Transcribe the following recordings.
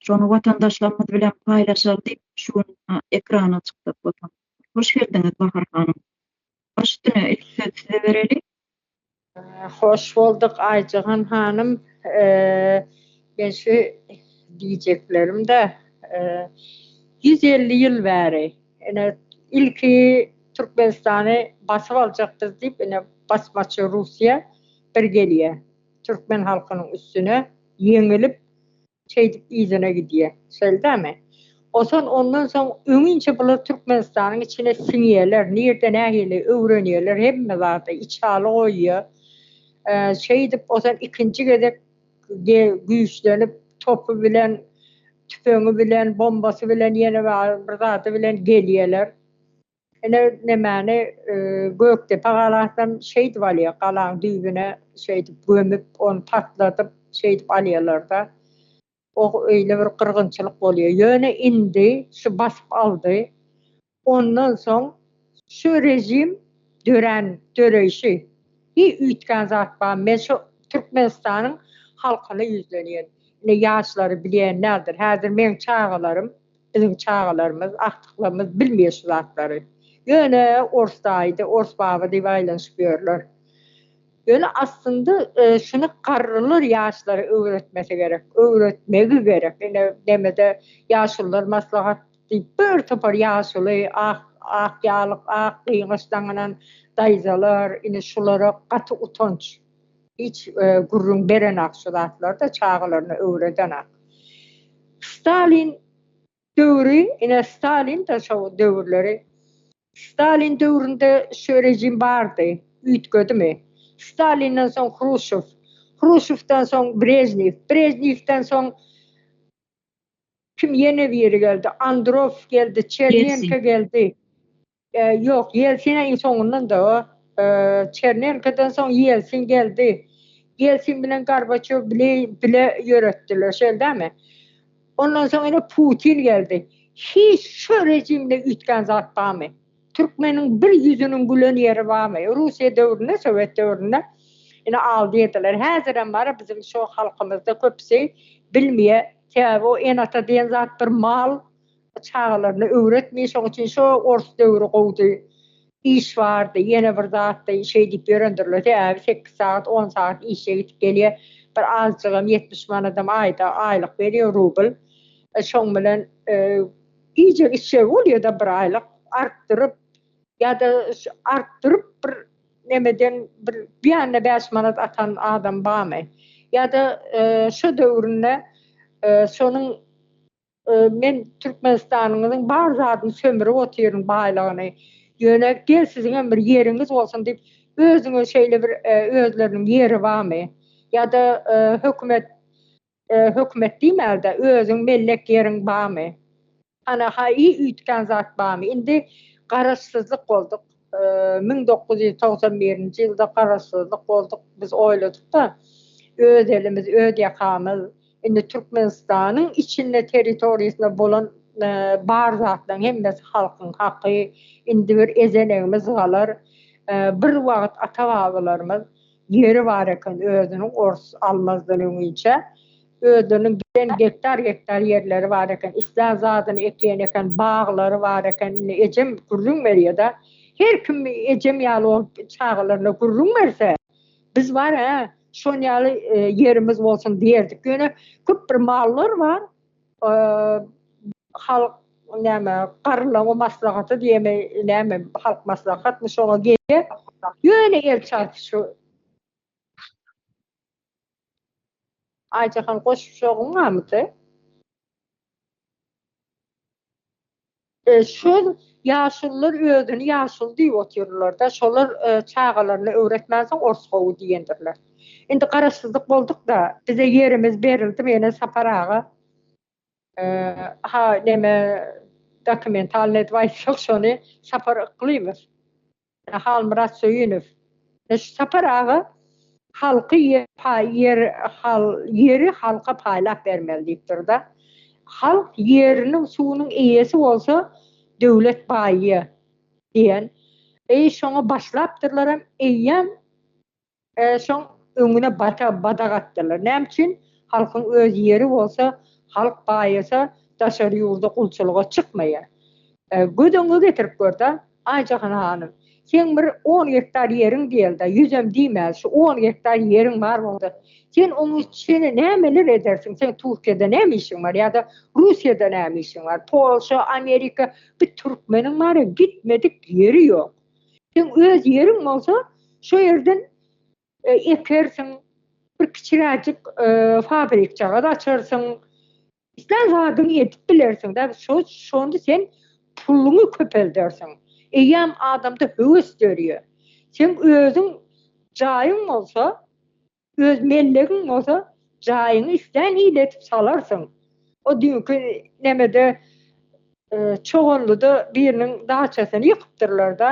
Şony watandaşlarymyz bilen paýlaşaly diýip şu gün ekrana çykdyk Watan. Hoş geldiňiz Bahar hanym. Baş üstüne ilki söz size bereli. Hoş bolduk Aýjyhan hanym. Men şu diýjeklerimde ýüz elli ýyl bäri ine ilki Türkmenistany basyp aljakdyz diýip ine basmaçy Russiýa bir gelýä türkmen halkynyň üstüne ýeňilip Şeýdip yzyna gidýär. Şeldämi? Osan ondan soň öňinçe bular Türkmenistanyň içine siňýärler, nirde nähili öwrenýärler hemme zady, içaly goýýar. Şeýdip osan ikinji gezek güýçlenip topy bilen, tüpeňi bilen, bombasy bilen ýene bir zady bilen gelýärler. Ine, nemäni Gökdepe galasam şeýdip alýar, galaň düýbüne şeýdip gömüp, ony patladyp, şeýdip alýarlar-da. O öýle bir gyrgynçylyk bolýar. Ýöne indi şu basyp aldy. Ondan soň şu režim dörän, döreýşi, hi üýtgän zat barmy? Men şu Türkmenistanyň halkyna ýüzlenýän. Ine, ýaşlary bilýän däldir. Häzir meň çagalarym. Biziň çagalarymyz, agtyklarymyz bilmeýär şu zatlary. Ýöne ors daýydy, ors baba diýip aýlanyşyp ýörler. Ýöne aslynda şuny garrylar ýaşlara öwretmesi gerek, öwretmegi gerek. Ine, nemede ýaşulular maslahat diýip bir topar ýaşuly, ak, ak ýalyk, ak gyňaç daňynan daýzalar, ine şulara gaty utanç. Hiç gürrüň berenak şu zatlarda çagalaryna öwredenak. Stalin döwri ine Stalin de şo döwürleri Stalin döwründe şu rejim bardy üýtgedimi? Stalinden soň Hruşow Hruşowdan soň Brežnew Brežnewden soň kim ýene biri geldi Androw geldi Çernenko geldi. Ýok, Ýelsin iň soňundan-da. Çernenkodan soň Ýelsin geldi. Ýelsin bilen Gorbaçýow bile bile ýöretdiler, şeýle dälmi? Ondan soň ine Putin geldi. Hiç şu režimde üýtgän zat barmy? Türkmeniň bir ýüzüniň gülen ýeri barmy? Russiýa döwründe, sowet döwründe ine aldyýdylar. Häzirem bar, biziň şu halkymyzda köpüsi bilmeýär. Sebäbi o ene-ata diýen zat bir mal. Çagalaryna öwretmeýin şoň üçin şo ors döwri gowdy. Iş bardy, ýene bir zatdy, şeý diýip ýörendirler. Sebäbi sekiz sagat, on sagat işe gidip gelýär. Bir azjygam ýetmiş manadam aýda aýlyk berýär, rubl. Şoň bilen iýjek-içjegi bolýar-da bir aýlyk. Artdyryp ýa-da artdyryp bir nemeden bir beýanna bäş manat atan adam barmy? Ýa-da şo döwründe şonuň Men Türkmenistanyňyzyň bar zadyny sömürip otyryn baýlygyny. Ýöne gel siziňem bir ýeriňiz bolsun diýip özüňe şeýle bir özleriniň ýeri barmy? Ýa-da hökümet hökümet diýmäl-de özüň mellek ýeriň barmy? Hany haýy üýtgän zat barmy? Indi garaşsyzlyk bolduk. Müň dokuz ýüz togsan birinji ýylda garaşsyzlyk bolduk. Biz oýladyk-da öz elimiz öz ýakamyz. Indi Türkmenistanyň içinde territoriýasynda bolan bar zatlaryň hemmesi halkyň haky. Indi bir ezenegimiz galar. Bir wagt ata-babalarymyz ýeri bar eken özüniň ors almazdan öňinçä özleriniň giden gektar-gektar ýerleri bar eken. Islän zadyny ekýän eken, baglary bar eken. Indi ejem gürrüň berýär-de. Her kim ejem ýaly bolup çagalaryna gürrüň berse. Biz bar hä, şon ýaly ýerimiz bolsun diýerdik. Ýöne köp bir mallar bar. Halk näme, garrylaryň maslahaty diýeme, näme, halk maslahatmy şoňa gelýär. Ýöne elçi aýtsy şu. Aýjahan goşuşagyň barmydy? Şol ýaşulylar özüni ýaşuly diýip otyrlar-da, şolar çagalaryna öwretmänsoň ors gowy diýendirler. Indi garaşsyzlyk bolduk-da, bize ýerimiz berildi, meni Sapar aga ha neme dokumentalnyý edwaýs ýok şony Sapar Yklymow Halmyrat Söýünow, Sapar aga halky ýer ýeri halka paýlap bermeli diýip durda. Halk ýeriniň suwunyň eýesi bolsa döwlet baýy diýen. Eý şoňa başlapdyrlaram eýýäm Şoň öňüne bata badak atdylar. Näme üçin? Halkyň öz ýeri bolsa, halk baýasa daşary ýurda gulçulyga çykmaýar. Göz öňüňe getirip gör-de, Aýjahan hanym, seň bir on gektar ýeriň diýeli-de, ýüzem diýmäli, şu on gektar ýeriň bar bolsa, sen oň içine nämeler edersiň? Seň Türkiýede näme işiň bar ýa-da Russiýada näme işiň bar? Polşa, Amerika, bir türkmeniň bar-a, gitmedik ýeri ýok. Seň öz ýeriň bolsa, şo ýerden ekersiň, bir kiçiräjik fabrikjagaz açarsyň, islän zadyňy edip bilersiň-dä, şonda sen puluňy köpeldersiň. Eýýäm adamda höwes dörýär. Seň özüň jaýyň bolsa, Öz mellegiň bolsa jaýyňy islän hili edip salarsyň. O düýnki nämede Çoganlyda biriniň daçasyny ýykypdyrlar-da,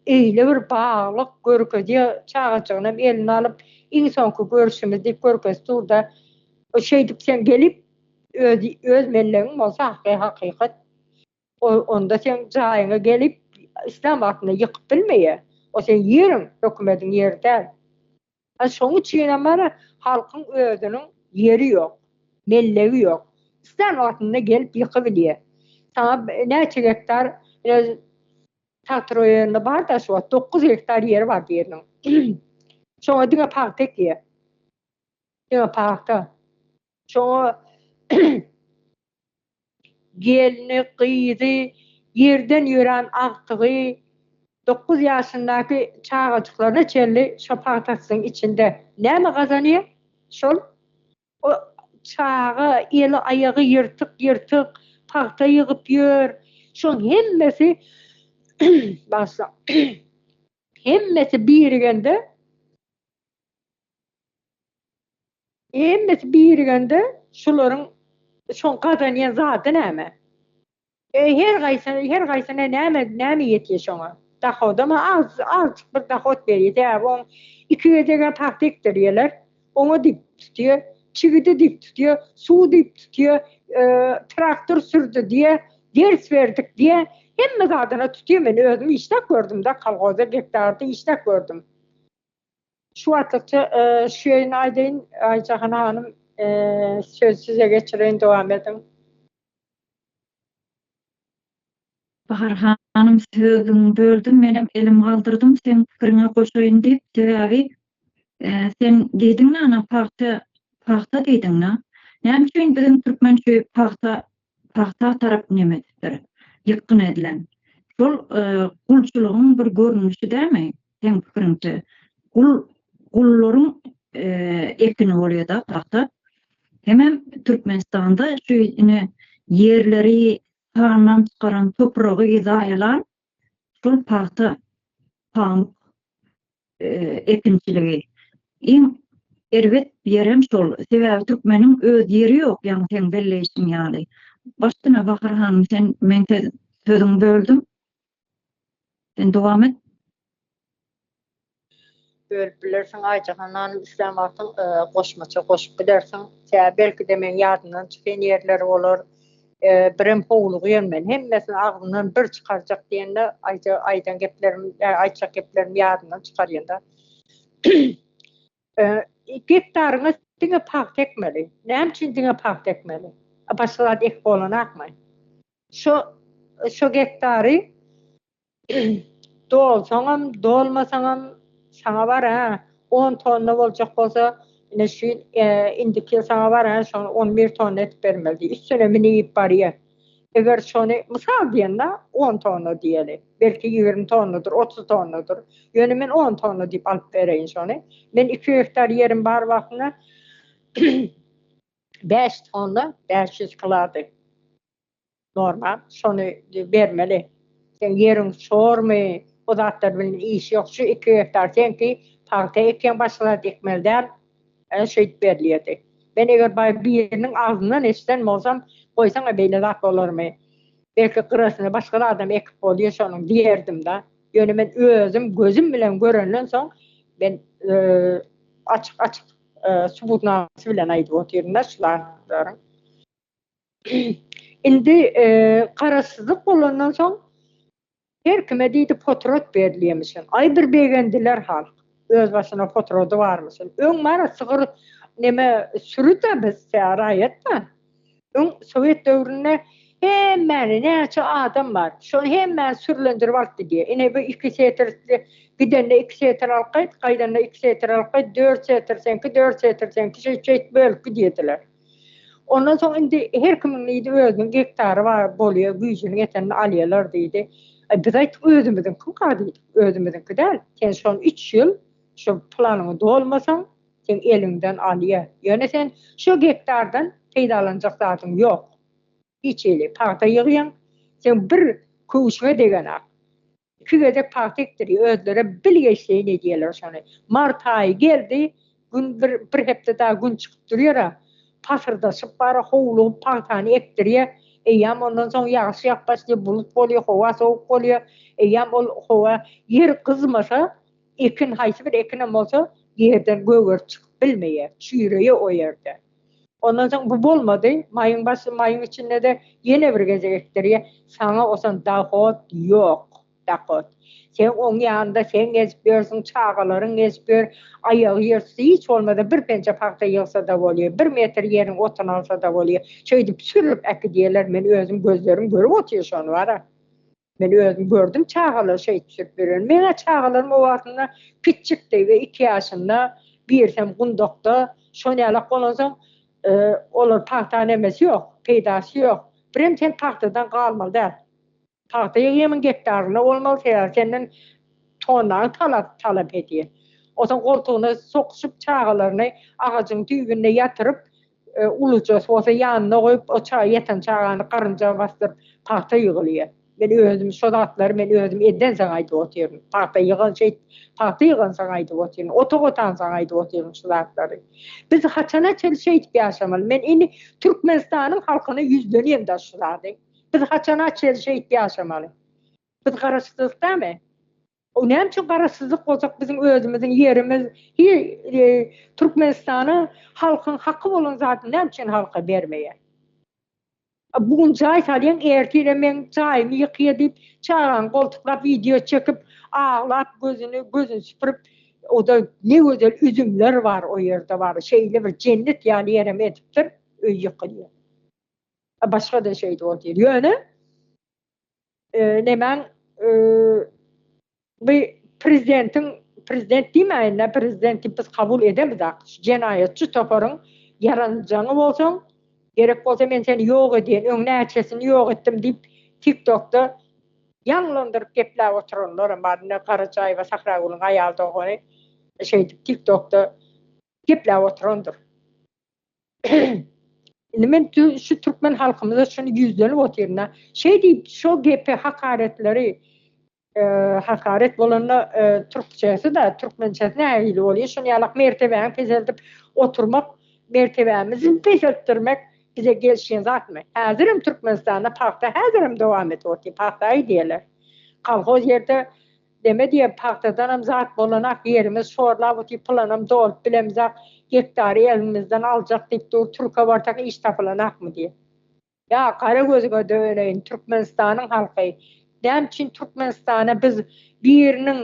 öýle bir baglyk görkezýär, çagajygynam eline alyp, iň soňky görşümiz diýip görkezip dur-da, şeýdip sen gelip, öz mellegiň bolsa hakykat, onda seň jaýyňa gelip, islän wagtynda ýykyp bilmeýär. O seň ýeriň, hökümediň ýeri däl. Şoň üçinem bar, halkyň özüniň ýeri ýok, mellegi ýok. Islän wagtynda gelip ýykybilýär. Saňa näçe gektar tagt roýonynda bar-da şu wagt dokuz gektar ýeri bar biriniň. Şoňa diňe pagta ekýär. Diňe pagta. Şoňa gelni, gyzy, ýerden ýörän agtygy, dokuz ýaşyndaky çagajyklaryna çenli şo pagtasynyň içinde näme gazanýar, şol o çaga eli-aýagy ýyrtyk-ýyrtyk pagta ýygyp ýör. Şoň hemmesi, bagyşlaň, hemmesi birigende Hemmesi birigende şularyň şoň gazanýan zady näme? Eý her gaýsy her gaýsyna näme näme ýetýä şoňa? Dahodama az azjyk bir dahod berýä sebäbi oň iki gezegä pagta ekdirýäler oňa dip tutýa çigidi dip tutýa suw dip tutýa traktor sürdi diýä ders berdik diýä hemme zadyna tutýa men özüm işläp gördüm-de kolhozda gektarda işläp gördüm Şu wagtlykça şu ýerini aýdaýyn. Aýjahan hanym, sözi size geçireýin, dowam ediň. Bahar hanym, sözüňi böldüm, menem elim galdyrdym, seň pikiriňe goşaýyn diýip, sebäbi sen diýdiň-le, ana, pagta, pagta diýdiň-le. Näme üçin biziň türkmen şu pagta Tagta tarap nemesdir, ýykgyn edilen. Şol gulçulygyň bir görnüşi dämi, seň pikiriňçe? Gul, gullaryň ekini bolýa-da tagta. Hemem Türkmenistanda şu ine ýerleri sandan çykaran, topragy zaýalan şol pagta, pamyk ekinçiligi. Iň erbet ýerem şol. Sebäbi türkmeniň öz ýeri ýok, ýaňy seň belleýşiň ýaly. Başdan-a Bahar hanym, sen meň sözüňi böldüm. Sen dowam et. Bölüp bilersiň Aýjahan hanym islän wagtyň goşmaça goşup bilersiň. Sebäbi belki-de meň ýadymdan çykan ýerleri bolar. Birem howlugýan men. Hemmesini agzymdan bir çykarjak diýende aýja aýdan geplerim aýtjak geplerimi ýadymdan çykarýan-da. Gektaryňa diňe pagta ekmeli. Näme üçin diňe pagta ekmeli? Başga zat ekip bolanakmy? Şo şo gektary Dolsaňam, dolmasaňam saňa bar-a. On tonna boljak bolsa, ine şu ýyl, indiki ýyl saňa bar-a, şony on bir tonna edip bermeli diýip, üstüne mini iýip barýar. Eger şony, mysal diýen-de, on tonna diýeli. Belki, ýigrimi tonnadyr, otuz tonnadyr. Ýöne men on tonna diýip alyp bereýin şony. Men iki gektar ýerim bar wagtynda bäş tonna bäş ýüz kilody. Normal, şony bermeli. Seň ýeriň çormy, o zatlar bilen işi ýok. Şu iki gektar seňki, pagta ekýäň, başga zat ekmeli däl. Ä şeýdip berilýärdi. Men eger baý biriniň agzyndan eşiden bolsam, goýsaň-a beýle zat bolarmy? Belki gyrasyna başga zadam ekip bolýar şonuň diýerdim-dä. Ýöne men özüm gözüm bilen görenden soň, men açyk-açyk subutnamasy bilen aýdyp otyryn-da şu zatlaryň. Indi garaşsyzlyk bolandan soň her kime diýdi potrat berilýemişin. Aý bir begendiler halk. Öz başyna potrady barmyşyn. Öň bara sygyr neme süri-de biz raýat-da. Öň sowet döwründe hemmäni näçe adam bar. Şony hemmäni sürlendirip alyp gidýä. Ine bu iki setr gidende iki setr alyp gaýt, gaýdanda iki setr alyp gaýt, dört setr seňki, dört setr seňki şeýt-şeýt bölüp gidýärdiler. Ondan soň indi her kimiň diýdi özüniň gektary bar bolýa güýjüniň ýetenini alýalar diýdi. Aý biz aýtdyk özümiziňkimka diýdik. Özümiziňki däl. Sen şony üç ýyl şu planyňy dolmasaň seň eliňden alýa. Ýöne sen şu gektardan peýdalanjak zadyň ýok. Hiç hili pagta ýygýaň. Seň bir köwşüňe degenak. Iki gezek pagta ekdirýär. Özlerem bilgeşleýin edýärler şony. Mart aýy geldi, gün bir, bir hepde dagy gün çykyp durýar-a. Pasyrdaşyp bar, howlugyp pagtany ekdirýär. Eýýäm ondan soň ýagyş ýagyp başlaýar, bulut bolýar, howa sowuk bolýar. Eýýäm ol howa, ýer gyzmasa, ekin, haýsy bir ekinem bolsa, ýerden gögerip çykyp bilmeýär. Çüýreýär o ýerde. Ondan soň bu bolmady. Maýyň başy, maýyň içinde-de ýene bir gezek ekdirýär. Saňa osan dahot ýok, dahot. Sen oň ýanynda sen gezip ýörsüň, çagalaryň gezip ýör, aýagy ýerüsti hiç bolmasa bir penje pagta ýygsa-da bolýar, bir metr ýeriň otuny alsa-da bolýar. Şeýdip sürüp äkidýärler, men özüm gözlerim görüp otyr şony bar-a. Men özüm gördüm çagalar şeý düşürip ýören. Meň-ä çagalarym o wagtynda kiçjikdi we iki ýaşynda, birsem gundakda. Şo nälet bolansoň, olar pagta nämesi ýok, peýdasy ýok. Birem sen pagtadan galmaly däl. Pagta ýygýamyň gektaryna bolmaly, sebäbi senden tonnaga talap talap edýär. Onsoň goltugyna sokuşyp çagalaryny agajyň düýbünde ýatyryp, Ulujasy bolsa ýanyna goýup, o çaga ýatan çagany garynja basdyryp, pagta ýygylýar. Men özüm şo zatlary men özüm edensoň aýdyp otyryn. Pagta ýygan şeýt, pagta ýygansoň aýdyp otyryn, otag otansoň aýdyp otyryn şu zatlary. Biz haçana çenli şeýdip ýaşamaly? Men indi Türkmenistanyň halkyna ýüzlenýän daş şu zady. Biz haçana çenli şeýdip ýaşamaly? Biz garaşsyzlykdamy? O näme üçin garaşsyzlyk bolsak biziň özümiziň ýerimiz hi i Türkmenistana halkyň haky bolan zadyny näme üçin halka bermeýär. Bu gün jaý salýaň ertire meň jaýymy ýykýa diýip çagaňy goltuklap wideo çekip aglap gözüni gözüni süpürip oda ne gözel üzümler bar o ýerde bar şeýle bir jennet ýaly ýerem edipdir öý ýykylýa. Başga da şeýdi ol diýdi ýöne nemäň bu prezidentiň prezident diýmäýin-dä prezident diýip biz kabul edemizak şu jenaýatçy toparyň ýaranjaňy bolsaň gerek bolsa men seni ýok edýän öň näçesini ýok etdim diýip tik tokda ýaňlandyryp gepläp oturanlaram bar ine Garajaýewa Sahragülüň aýal dogany şeýdip tik tokda gepläp oturandyr Indi men şu türkmen halkymyza şuny ýüzlenip otyryn-a, şeý diýip, şo gepi, hakaretleri, hakaret bolanda türkçesi-de, türkmençesi nähili bolýar, şuny ýalak mertebäni peseldip oturmak, mertebämizi peseltdirmek bize gelşýän zatmy? Häzirem Türkmenistanda pagta häzirem dowam edip otyrýar, pagta-aý diýerler. Kolhoz ýerde Neme diýem, pagtadanam zat bolanak, ýerimiz şor labuty pylanam dolup bilemzak, gektary elinmizden aljak diýip dur, türke barsak iş tapylanakmy diýe. Ýa gara gözüňe döneýin, Türkmenistanyň halky, näme üçin Türkmenistana biz biriniň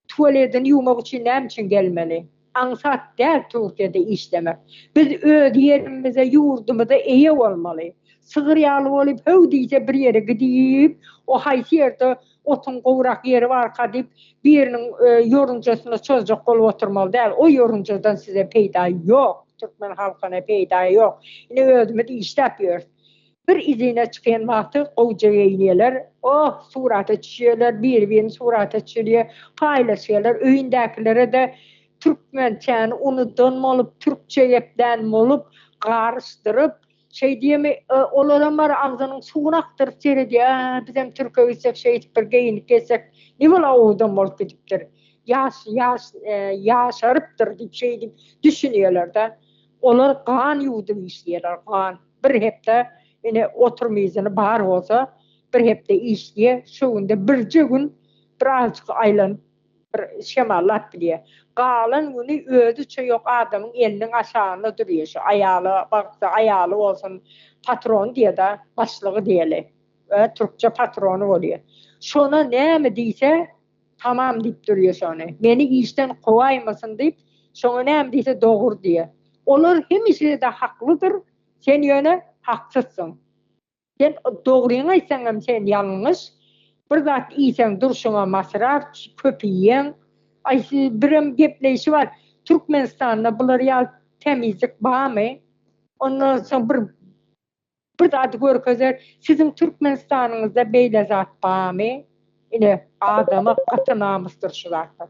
tuwaledini ýuwmak üçin näme üçin gelmeli? Aňsat däl Türkiýede işlemek. Biz öz ýerimize, ýurdumyza eýe bolmaly. Sygyr ýaly bolup, höw diýse bir ýere gidip, o haýsy ýerde otuň gowrak ýeri barka diýip, biriniň ýorunjasyna çozjak bolup oturmaly däl. O ýorunjadan size peýda ýok, türkmen halkyna peýda ýok. Ine özümiz işläp ýörüs. Bir izine çykan wagty gowja geýinýärler. Oh, surata çüşýärler, biri-birini surata çüşirýär, paýlaşýarlar. Öýündäkilere-de türkmençäni unudan bolup, türkçe geplän bolup, garyşdyryp, şeý diýemi, olaram bar, agzynyň suwuny akdyryp seredýär, Ä, bizem türke gitsek, şeýdip bir geýinip gezsek, ne bol owadan bolup gidipdir. Ýaş, ýaş, ýaşarypdyr diýip, şeýdip düşünýärler-de. Olar gan ýuwudyp işleýärler, gan. Bir hepde, ine, oturum yzyny bar bolsa, bir hepde işleýär, şo günde birje gün bir azajyk aýlanyp, bir şemallap bilýär. Galan güni özüçe ýok adamyň eliniň aşagynda durýar şu, aýaly bagtsa, aýaly bolsun, patrony diýer-dä, başlygy diýeli. Türkçe patrony bolýar. Şona näme diýse, Tamam diýip durýa şony. Meni işden kowaýmasyn diýip, şoňa näme diýse dogur diýe. Olar hemişede haklydyr, sen ýöne haksyzsyň. Sen dogryňy aýtsaňam sen ýalňyş. Bir zat iýseň durşuňa masraf, köp iýýäň. Aý siz birem gepleýşi bar. Türkmenistanda bular ýaly tämizlik barmy? Ondan soň bir Bir zady görkezer, siziň Türkmenistanyňyzda beýle zat bamy? Ine, adama gaty namysdyr şu zatlar.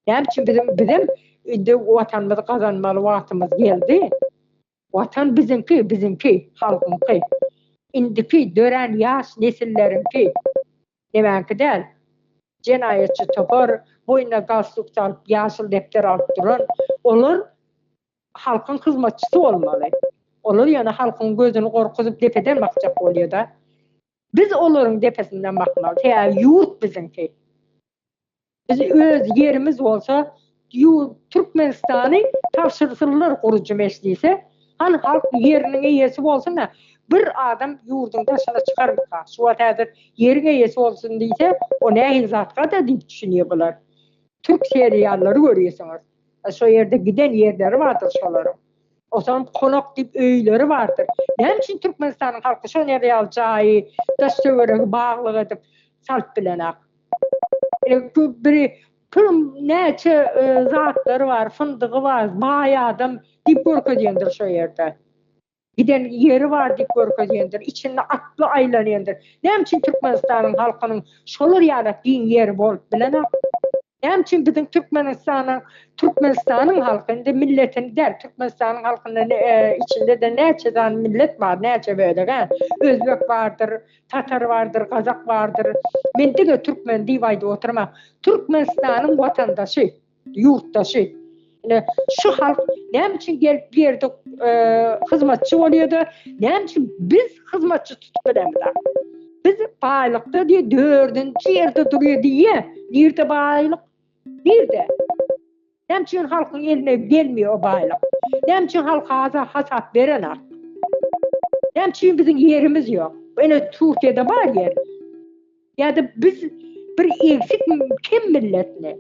Näme üçin biziň, bizem indi Watanymyzy gazanmaly wagtymyz geldi. Watan biziňki, biziňki, halkyňky. Indiki dörän ýaş nesilleriňki. Nemäňki däl. Jenaýatçy topar, boýnuna galstuk salyp, ýaşyl depder alyp duran, olar Halkyň hyzmatçysy bolmaly. Olar ýöne halkyň gözüni gorkuzyp depeden bakjak bolýada. Biz olaryň depesinden bakmaly. Sebäbi ýurt biziňki. Biz öz ýerimiz bolsa ýurt Türkmenistany tabşyrsynlar gurujy mejlise. Hany halk ýeriniň eýesi bolsuna. Bir adam ýurduň daşyna çykarmyka? Şu wagt häzir ýeriň eýesi bolsun diýse o nähili zatka-da diýip düşünýä bular. Türk seriallary görýäsiňiz. Şo ýerde giden ýerleri bardyr şolaryň. Osaňam konak diýip öýleri bardyr. Näme üçin Türkmenistanyň halky şo ýere ýaly jaýy, daş-töweregi baglyk edip salyp bilenok? Biri puluň näçe zatlary bar, fyndygy bar, baý adam diýip görkezýändir şo ýerde. Giden ýeri bar diýip görkezýändir, içinde atly aýlanýandyr. Näme üçin Türkmenistanyň halkynyň şolar ýalak giň ýeri bolup bilenok? Näme üçin biziň Türkmenistanyň, Türkmenistanyň halky, indi milletini däl, Türkmenistanyň halkynda içinde-de näçe sany millet bar, näçe bölek-ä? Özbek bardyr, tatar bardyr, gazak bardyr. Men diňe türkmen diýip aýdyp oturman. Türkmenistanyň watandaşy. Ýurtdaşy. Ine, şu halk näme üçin gelip bu ýerde hyzmatçy bolýar-da, näme üçin biz hyzmatçy tutup bilemizä? Biz baýlykda diýe dördünji ýerde durýar diýýä. Nirde baýlyk? Nirde? Näme üçin halkyň eline gelmeýär o baýlyk? Näme üçin halk aza hasap berenok? Näme üçin biziň ýerimiz ýok? Ene Türkiýede bar ýer. Ýa-da biz bir egsik, kem milletmi?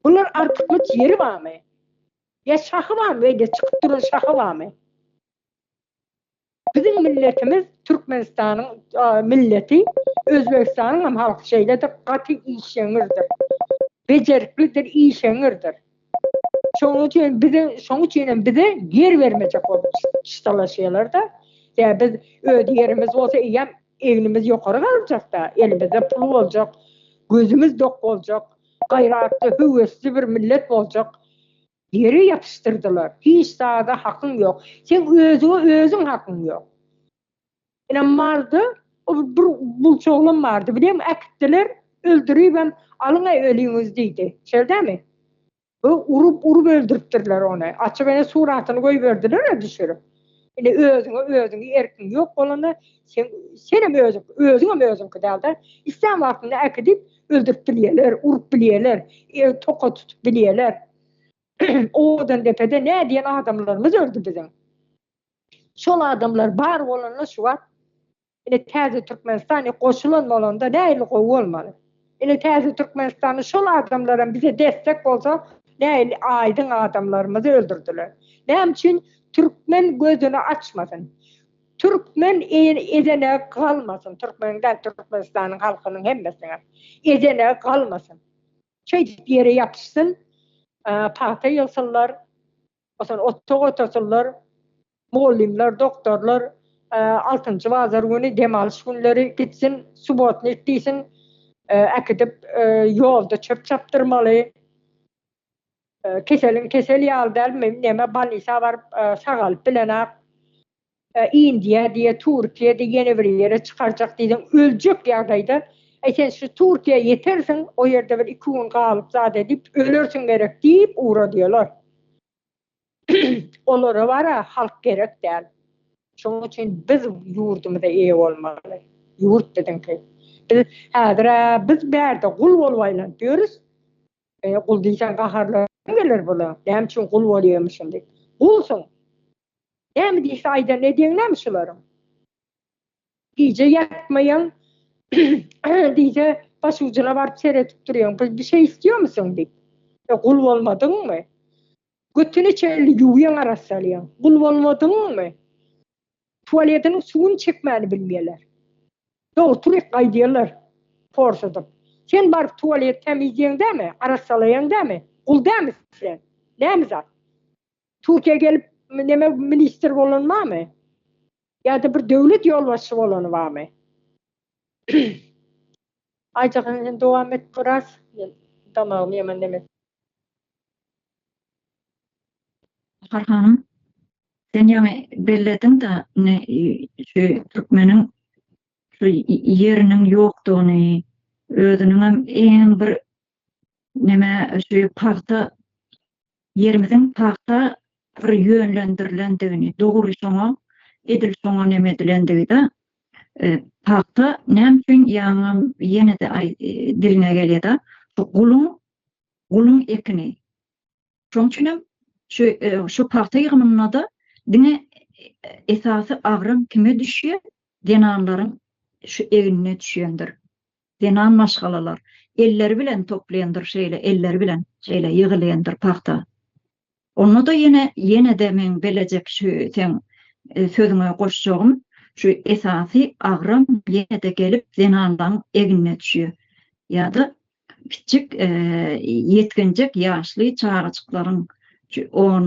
Bular artykmaç ýeri barmy? Ýa şahy barmy, beýle çykyp duran şahy barmy? Biziň milletimiz Türkmenistanyň milleti, Özbegistanyň hem halky şeýledir, gaty işeňňirdir. Bejeriklidir, işeňňirdir. Şonuň üçin bize, şonuň üçin hem bize ýer bermejek bolup çyşdalaşýarlar-da. Ýa biz öz ýerimiz bolsa eýýäm Egnimiz ýokary galjak-da, elimizde pul boljak, gözümiz dok boljak, gaýratly, höwesli bir millet boljak. Ýere ýapyşdyrdylar. Hiç zada hakyň ýok. Seň özüňe özüň hakyň ýok. Ine malda bir bulça oglan bardy. Bileň äkitdiler, öldüribem, alyň-aý öliňizi diýdi. Şeldämi? Bu urup urup öldüripdirler ony. Açyp ene suratyny goýberdiler-ä düşürip. Indi özüňe özüňi erkiň ýok bolanda sen senem özüň özüňem özüňki dälda. Islän wagtynda äkidip öldürip bilýärler, urup bilýärler, ew toka tutup bilýärler. Owazandepede nädiýen adamlarymyz öldi biziň. Şol adamlar bar bolanda şu wagt Ine täze Türkmenistan e goşulan bolanda nähili gowy bolmaly. Ine täze Türkmenistanda şol adamlaram bize destek bolsa nähili aýdyň adamlarymyzy öldürdiler. Näme üçin Türkmen gözüni açmasyn. Türkmen edene galmasyn Türkmeniň däl Türkmenistanyň halkynyň hemmesiniňem edene galmasyn. Şeýdip ýere ýapyşsyn pagta ýygsynlar Masalan, otag otasylar, mugallymlar, doktorlar altynjy bazar güni, dem alyş günleri gitsin, subotnik diýsin, äkidip ýolda çöp çapdyrmaly. Keseliň kesel ýaly däl, neme, bolnisa baryp sagalyp bilenok. Indiýa diýe, Türkiýe diýe, ýene bir ýere çykarjak diýseň, öljek ýagdaýda, Äý, sen şu Türkiýä ýetersiň, o ýerde bir iki gün galyp zat edip, ölersiň gerek diýip ugradýarlar. Olara bar-a, halk gerek däl. Şonuň üçin biz ýurdumyza eýe bolmaly. Ýurt biziňki. Biz häzir-ä biz bärde gul bolup aýlanyp ýörüs. Eý, gul diýseň gaharlaryň geler bula, näme üçin gul bolýarmyşyn diýip. Gulsuň! Näme diýse aýdan edýäň näme şularyň? Gije ýatmaýaň, diýse başujuna baryp seredip durýaň, bir bir şey istiýar musuň diýip. E, gul bolmadyňmy? Götüni çenli ýuwýaň, arassalýaň. Gul bolmadyňmy? Tualetiniň suwuny çekmäni bilmeýärler. Doly turik gaýdýarlar porsadyp. Sen baryp tualeti tämizleýäň dämi, arassalaýaň dämi? Gul dämi sen? Näme zat? Türkiýä gelip neme ministr bolany barmy? Ýa-da bir döwlet ýolbaşçy bolany barmy? Aýjahan sen dowam et biraz. Men damagym ýaman neme. Bahar hanym, Sen ýaňy bellediň-de indi şu türkmeniň şu ýeriniň ýokdugyny, özüniňem eýýäm bir neme şu pagta ýerimiziň pagta bir ýönlendirilendigini, dogry şoňa edil şoňa neme edilendigi-de pagta näme üçin ýaňam ýene-de diliňe gelýä-de şu guluň guluň ekini Şonuň üçin hem şu şu pagta ýygymynda-da diňe esasy agram kime düşýär? Zenanlaryň şu egnine düşendir. Zenan maşgalalar elleri bilen toplaýandyr şeýle, elleri bilen şeýle ýygylýandyr pagta. Onda-da ýene, ýene-de meň belejek şu seň sözüňe goşjagym, şu esasy agram ýene-de gelip zenanlaň egnine düşýär. Ýa-da Kiçijik ýetginjek ýaşly çagajyklaryň, on,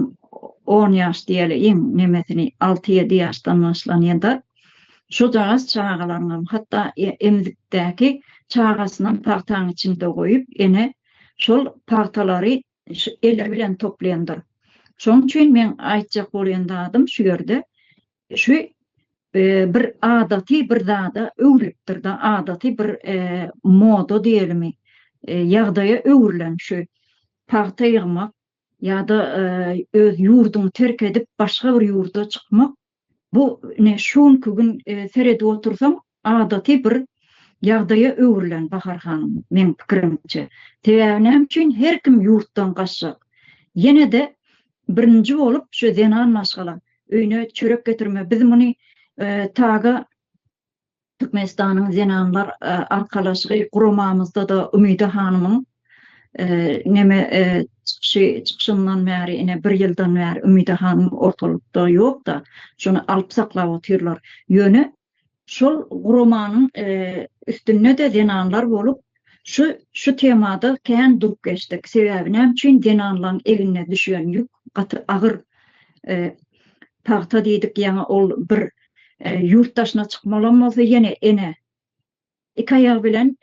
on ýaş diýeli iň nemesini, alty-ýedi ýaşdan başlanýa-da, şojagaz çagalaryňam, hatda emzikdäki çagasynam pagtaň içinde goýup, ene şol pagtalary eli bilen toplaýandyr. Şonuň üçin meň aýtjak bolýan zadym şu ýerde, Şu bir adaty bir zada öwrülipdir-de, adaty bir moda diýelimi, ýagdaýa öwrülen şu pagta ýygmak ýa-da öz ýurduňy terk edip, başga bir ýurda çykmak, bu ine şu günki gün seredip otursaň, Adaty bir ýagdaýa öwrülen Bahar hanym, meň pikirimçe. Sebäbi näme üçin her kim ýurtdan gaçjak? Ýene-de birinji bolup şu zenan maşgala öýüne çörek getirme biz muny taga Türkmenistanyň zenanlar arkalaşygy guramamyzda-da Umyda hanymyň neme çykyşy çykyşyndan bäri ine bir ýyldan bäri Umyda hanym ortalykda ýok-da, şony alyp saklap otyrlar. Ýöne Şol guramanyň üstünde-de zenanlar bolup, şu şu temada kän durup geçdik. Sebäbi näme üçin zenanlaň eline düşýän ýük gaty agyr. Pagta diýdik, ýaňy ol bir ýurt daşyna çykmalam bolsa ýene ene iki aýagy bilen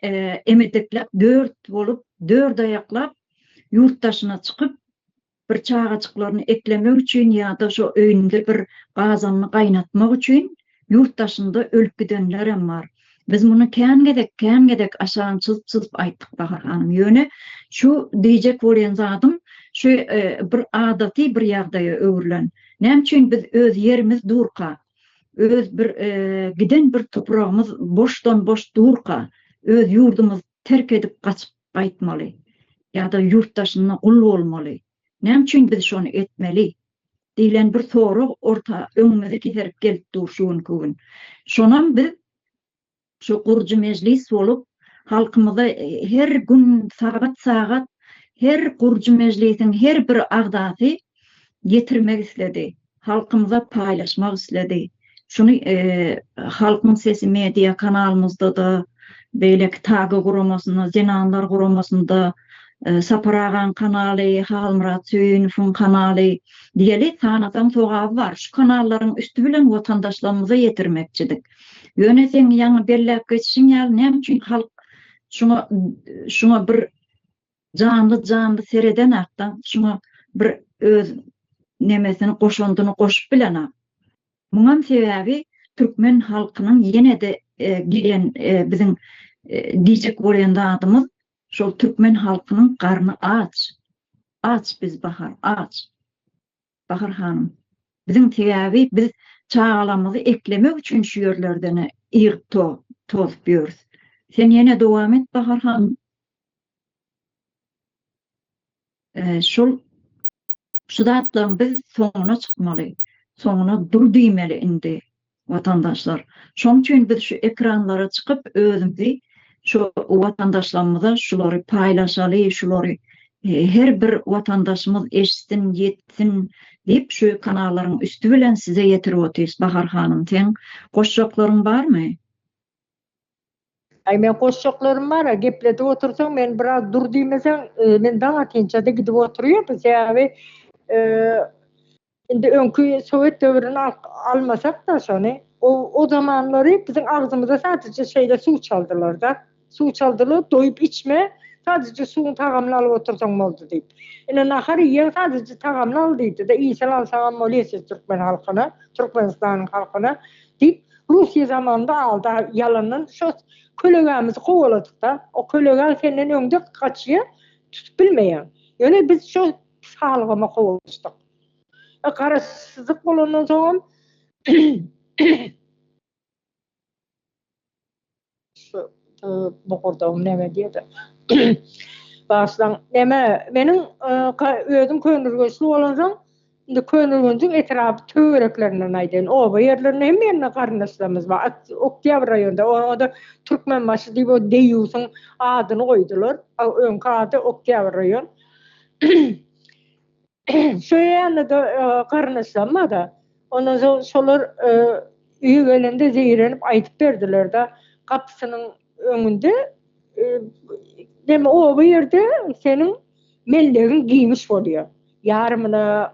emedekläp dört bolup, dört aýaklap ýurt daşyna çykyp, Bir çagajyklaryny eklemek üçin ýa-da şo öýünde bir gazanyny gaýnatmak üçin ýurt daşynda ölüp gidenlerem bar. Biz muny kän gezek, kän gezek aşan çyzyp-çyzyp aýtdyk Bahar hanym. Ýöne şu diýjek bolýan zadym şu bir adaty bir ýagdaýa öwrülen. Näme üçin biz öz ýerimiz durka, öz bir giden bir topragymyz boşdan-boş durka, öz ýurdumyz terk edip gaçyp gaýtmaly ýa-da ýurt daşynda gul bolmaly, näme üçin biz şony etmeli? diýlen bir sorag orta öňümize keserip gelip dur şu günki gün. Şonam biz şu gurujy mejlis bolup, halkymyza her gün sagat-sagat her gurujy mejlisiň her bir agzasy ýetirmek isledi. halkymyza paýlaşmak isledi. Şuny Halkyň sesi media kanalymyzda-da, beýleki TAGA guramasynda, Zenanlar guramasynda, Sapar agaň kanaly, Halmyrat Söýünowyň kanaly diýeli sanasaň sogaby bar. Şu kanallaryň üsti bilen watandaşlarymyza ýetirmekçidik. Ýöne seň ýaňy belläp geçişiň ýaly näme üçin halk şuňa şuňa bir Janly janly seredenakdan şuňa bir öz nemesini goşandyny goşup bilenok. Muňam sebäbi türkmen halkynyň ýenede gelen biziň diýjek bolýan zadymyz şol türkmen halkynyň garny aç. Aç biz bahar aç. Bahar hanym. Biziň sebäbi biz çagalarymyzy eklemek üçin şu ýerlerden ygyp tozup ýörüs. Sen ýene dowam et Bahar hanym. Şol şu zatlaryň biz soňuna çykmaly. Soňuna dur diýmeli indi. Watandaşlar, şoň üçin biz şu ekranlara çykyp özümizi şu watandaşlarymyza şulary paýlaşaly, şulary her bir watandaşymyz eşitsin, ýetsin diýip şu kanallaryň üsti bilen size ýetirip otyrys. Bahar hanym seň goşjaklaryň barmy? Aý men goşjaklarym bara gepledip otursaň men biraz dur diýmeseň men daň atynçada gidip oturýardy sebäbi indi öňki sowet döwrüni almasakda şony o zamanlary biziň agzymyza sadije şeýle suw çaldylarda suw çaldylar doýup içme sadije suwuň tagamyny alyp otursaň boldy diýip ine nahar iýeň sadije tagamyny al diýdida iýsel alsaňam bolýa siz türkmen halkyna türkmenistanyň halkyna Diýip, Russiýa zamanynda aldy, ýalandan şo kölegämizi kowaladyk-da. O kölegäň senden öňde gaçýa, tutup bilmeýäň. Ýöne biz şo salgama kowalaşdyk. E, garaşsyzlyk bolandan soňam, Şu bogurdagym näme diýýä-de. Bagyşlaň, näme, meniň özüm Köneürgençli bolansoň, indi Köneürgenjiň etrap töwereklerinden aýdaýyn, oba ýerlerinde hemme ýerinde garyndaşlarymyz bar. At, Oktýabr raýonynda, oňa-da Türkmenbaşy diýip o deýýusyň adyny goýdular. A öňki ady Oktýabr raýon. Söýýände-de garyndaşlarym-da, ondan soň şolar öýe gelende zeýrenip aýdyp berdiler-de, gapysynyň öňünde oba ýerde seniň mellegiň giňiş bolýar. Ýarymyna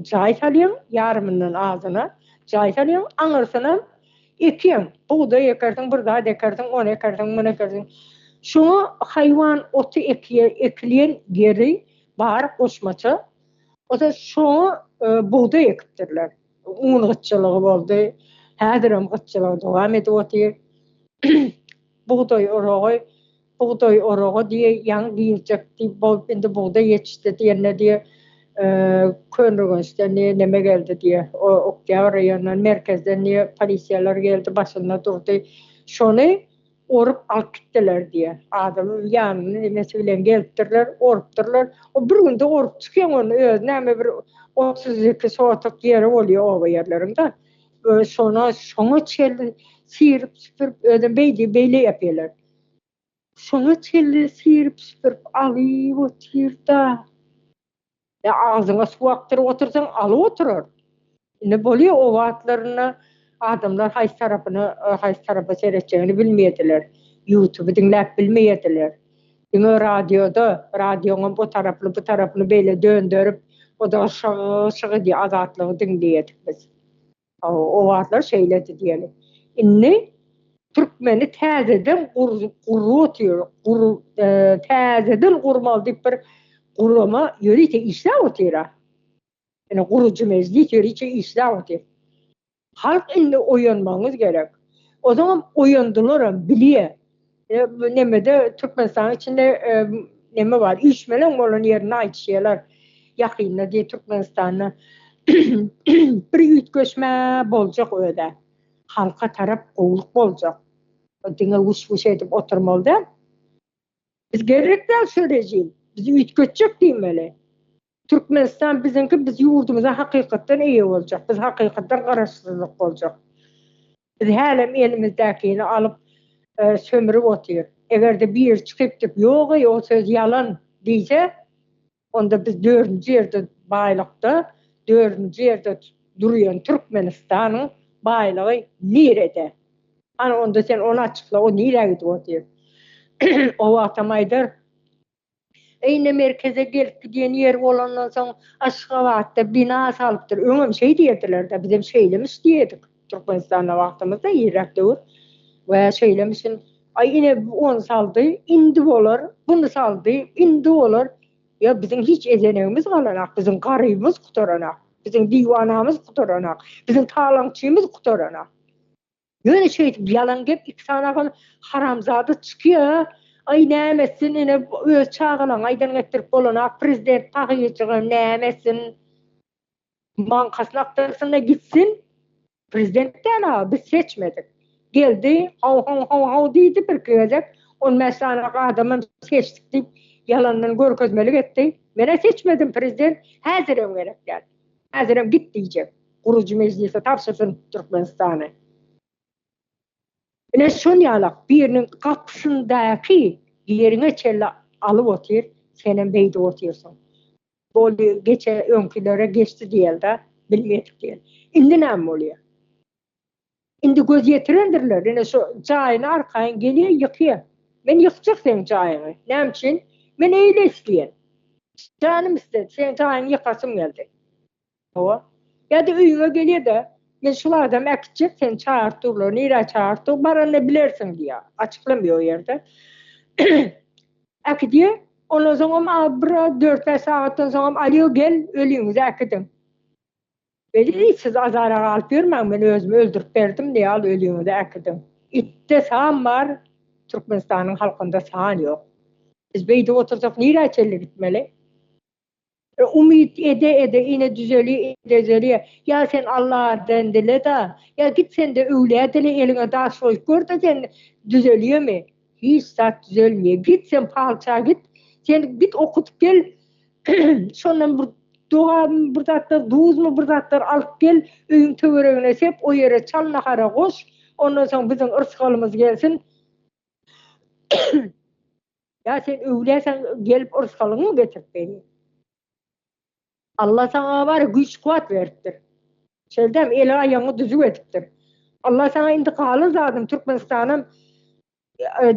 jaý salýaň, ýarymyndan azyna jaý salýaň, aňyrsyna ekýäň. Bugdaý ekersiň, bir zat ekersiň, ony ekersiň, muny ekersiň. Şoňa haýwan oty ekilýän ýeri Bar goşmaça bolsa şoňa bugdaý ekipdirler. Un gytçylygy boldy. Häzirem gytçylygy dowam edip otyr. Bugdaý oragy, bugdaý oragy diýe ýaňy girjek diýip bolup indi bugdaý ýetişdi diýende diýe Köneürgençden diýe neme geldi diýe Oktýabr raýonyndan merkezden diýe polisiýalar geldi başynda durdy. Şony Orup alyp gitdiler diýýä. Adamyň ýanyna enesi bilen gelipdirler, orupdyrlar. O bir günde orup çykýan ony, özi näme bir otuz iki sotuk ýeri bolýa oba ýerleriň-de. Özi şona, şoňa çenli sýrip-süpürip, özem beýdi, beýle ýapýalar. Şoňa çenli sýrip-süpürip alyp otyr-da. Ýa agzyňa suw akdyryp otursaň, alyp oturar. Indi bolýar, o wagtlarynda adamlar haýsy tarapyna, haýsy tarapa seretjegini bilmeýärdiler. Ýutuby diňläp bilmeýärdiler. Diňe radioda, radioňam o tarapyny, bu tarapyny beýle dönderip, o-da şyg-şygy diýip, Azatlygy diňleýärdik biz. O wagtlar şeýledi diýeli. Indi türkmeni täzeden gurlup otyr, täzeden gurmaly diýip bir gurama ýörite işläp otyr-a. Indi gurujy mejlis ýörite işläp otyr. Halk indi oýanmagyňyz gerek. Ozaňam oýandylaram bilýä. Bu nemede Türkmenistanyň içinde neme bar, üýşmeleň bolan ýerini aýtýalar. Ýakynda diýip Türkmenistanda bir üýtgeşme boljak özä. Halka tarap gowulyk boljak. Diňe wuş-wuş edip oturmaly däl. Biz gerek däl şu rejim. Bizi üýtgetjek diýmeli. Türkmenistan biziňki biz ýurdumyza hakykatdan eýe boljak biz hakykatdan garaşsyzlyk boljak biz hälem elimizdäkini alyp sömrüp otyr egerde biri çykyp dip ýogeý o söz ýalan diýse onda biz dördünji ýerde baýlykda dördünji ýerde durýan Türkmenistanyň baýlygy nirede hany onda sen ony açykla o nirä gidip otyr o wagtam aýdar Eýne merkeze gelip gidýän ýeri bolandan soň Aşgabatda bina salypdyr. Öňem şeý diýerdiler-de, bizem şeýlemiş diýerdik. Türkmenistanda wagtymyzda irräk döwür we şeýlemişin. Aý ine bu ony saldy, indi bolar, buny saldy, indi bolar. Ýa biziň hiç ezenegimiz galanak, biziň garybymyz gutaranak, biziň diwanamyz gutaranak, biziň talaňçymyz gutaranak. Ýöne şeýdip ýalan gep iki sany ahal haramzada çykýa aý näme etsin ine öz çagalaň aýdan gepdirip bolana prezident tahyýjygam näme etsin mankasyny akdyrsynda gitsin prezident däl a biz seçmedik geldi haw haw haw haw diýdi birki gezek on bäş sany adamam seçdik diýip ýalandan görkezmelik etdi menä seçmedim prezident häzirem gerek däl. Häzirem git diýjek. Gurujy mejlise tabşyrsyn Türkmenistany. Ine şol ýalak biriniň gapysyndaky ýeriňe çenli alyp otyr, senem beýdip otyrsyň. Boldy, geçe öňkilere geçdi diýeli-dä, bilmedik diýeli. Indi näme bolýar? Indi göz ýetirendirler, ine şo jaýyny arkaýyn gelýän ýykýan. Men ýykjak seň jaýyňy. Näme üçin? Men eýle isleýän. Janym isledi, seň jaýyňy ýykasym geldi. Hawa. Ýa-da öýüňe gelýä-de, men şol adamy äkitjek, seni çagyryp durlar, nirä çagyryp dur, baranda bilersiň diýýä. Açyklam ýok o ýerde. Äkidýä, ondan soňam bir dört-bäş sagatdan soňam alýo gel, öliňizi äkidiň. Weli, siz azara galyp ýörmäň, men özümi öldürip berdim diýip, al öliňizi äkidiň. Itde san bar, Türkmenistanyň halkynda san ýok. Biz beýdip otursak nirä çenli gitmeli? E, umyt ede-ede, ine düzelýär, ine düzelýär. Ýa sen Allaha den dile-de, ýa git sen-de öwlä dile, eliňe daş goýup gör-de sen düzelýärmi? Hiç zat düzelmeýär. Git sen palça git. Sen git okudyp gel. Şondan bir dogamy bir zatlar duzmy bir zatlar alyp gel. Öýüň töweregine sep, o ýere çal nahara goş. Ondan soň biziň yrsgalymyz gelsin. Ýa sen öwläseň gelip yrsgalyňmy getirip berýär. Alla saňa bar güýç kuwat beripdir. Şeldem eli aýagyňy düzüw edipdir. Alla saňa indi galan zadyň Türkmenistanam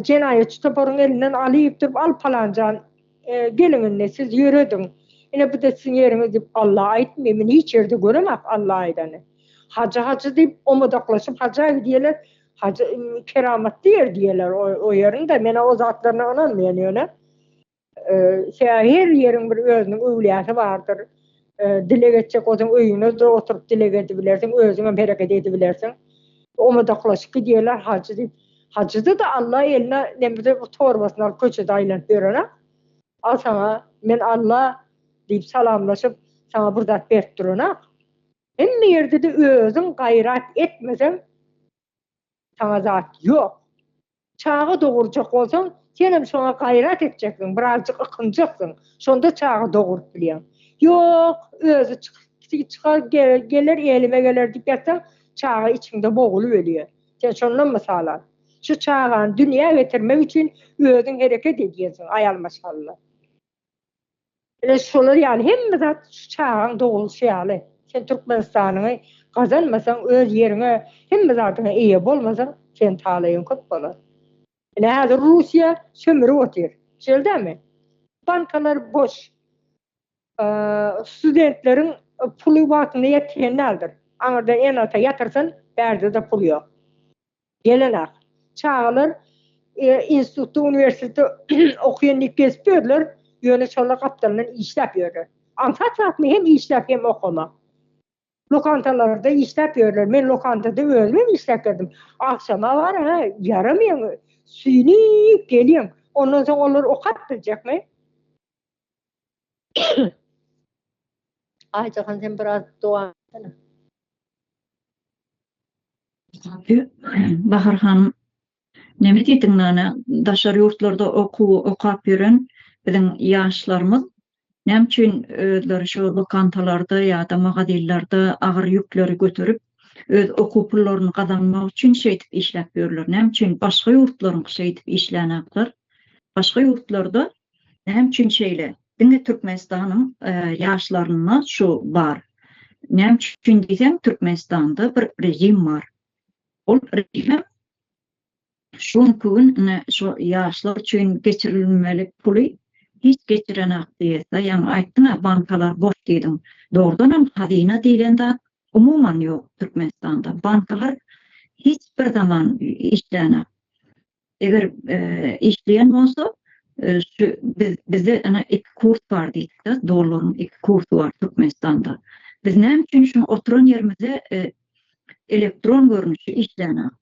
jenaýatçy toparyň elinden alyp durup al palanjan geliň indi siz ýörediň ine buda siziň ýeriňiz diýip Alla aýtmy men hiç ýerde göremak Alla aýdany. Hajy hajy diýip omadaklaşyp haja gidýeler hajy keramatly ýer diýeler o ýeriňde men o zatlaryna ynanmaýan ýöne Sebäbi her ýeriň bir özüniň öwlýasy bardyr. Dileg etjek bolsaň, öýüňde-de oturyp dileg edibilersiň, özüňem hereket edibilersiň. Omadaklaşyp gidýärler hajy diýip. Hajyda-da Alla eline nemirde bir torbasyny alyp köçede aýlanyp ýören-ä. Al saňa, men Alla diýip salamlaşyp, saňa bir zat berip duranam. Hemme ýerde-de özüň gaýrat etmeseň, Saňa zat ýok. Çaga dogurjak bolsaň, senem şoňa gaýrat etjekdiň, birazjyk ykynjakdyň, şonda çaga doguryp bilýäň. Ýok, özi çykyp çykar, geler, elime geler diýip ýatsaň, çaga içiňde bogulyp ölýär. Sen şondan mysal al. Şu çagany dünýä getirmek üçin özüň hereket edýänsiň, aýal maşgala. Ine şolar ýaly hemme zat şu çagaň dogulşy ýaly. Sen Türkmenistanyňy gazanmasaň, öz ýeriňe, hemme zadyňa eýe bolmasaň, seniň talaýyň köp bolar. Ine häzir Russiýa sömürip otyr. Şeýldämi? Bankalar boş. Studentleriň puly wagtynda ýetişen däldir. Aňyrda ene-ata ýatyrsyn, bärde-de pul ýok. Gelen-ak. Çagalar institutda, uniwersitetde okaýan diýip gezip ýörler, ýöne şolar gapdalyndan işläp ýörler. Aňsat zatmy hem işläp, hem okamak. Lokantalarda işläp ýörler. Men lokantada özüm hem işläp ýördüm. Agşama bar-a, ýaramaýaň, süýnüp gelýäň. Ondan soň olar okap biljekmi? Aýjahan sen biraz dowam etsene. Bahar hanym neme diýdiň nana daşary ýurtlarda okuw okap ýören biziň ýaşlarymyz näme üçin özleri şu lokantalarda ýa-da magazinlerde agyr ýükleri göterip öz okuw pullaryny gazanmak üçin şeýdip işläp ýörler näme üçin başga ýurtlaryňky şeýdip işlänaklar başga ýurtlarda Näme üçin şeýle? Diňe Türkmenistanyň ýaşlarynda şu bar. Näme üçin diýseň, Türkmenistanda bir režim bar. Ol režim şu günki gün ine şu ýaşlar üçin geçirilmeli puly hiç geçirenok diýesda. Ýaňy aýtdyň-a, bankalar boş diýdiň. Dogrudan hem hazyna diýlen zat umuman ýok Türkmenistanda. Bankalar hiç bir zaman işlänok. Eger işleýän bolsa, şu biz bizde ene iki kurs bar diýdik-de, dollaryň iki kursy bar Türkmenistanda. Biz näme üçin şu oturan ýerimizde elektron görnüşi işlänok?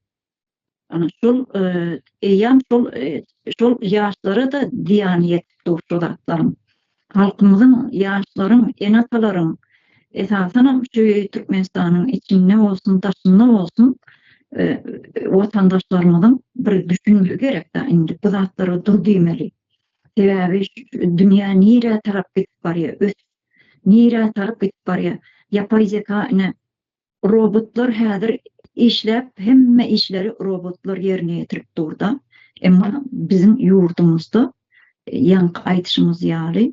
Ana şol eýýam şol şol ýaşlara-da zyýany ýetip dur şu zatlaryň. Halkymyzyň, ýaşlaryň, ene-atalaryň, esasanam şu Türkmenistanyň içinde bolsun, daşynda bolsun watandaşlarymyzyň bir düşünmegi gerek-dä indi bu zatlara dur diýmeli. Sebäbi dünýä nirä tarap gidip barýar, ösüp nirä tarap gidip barýar. Ýapaý zeka ine Robotlar häzir işläp hemme işleri robotlar ýerine ýetirip durda. Emma biziň ýurdumyzda ýaňky aýdyşymyz ýaly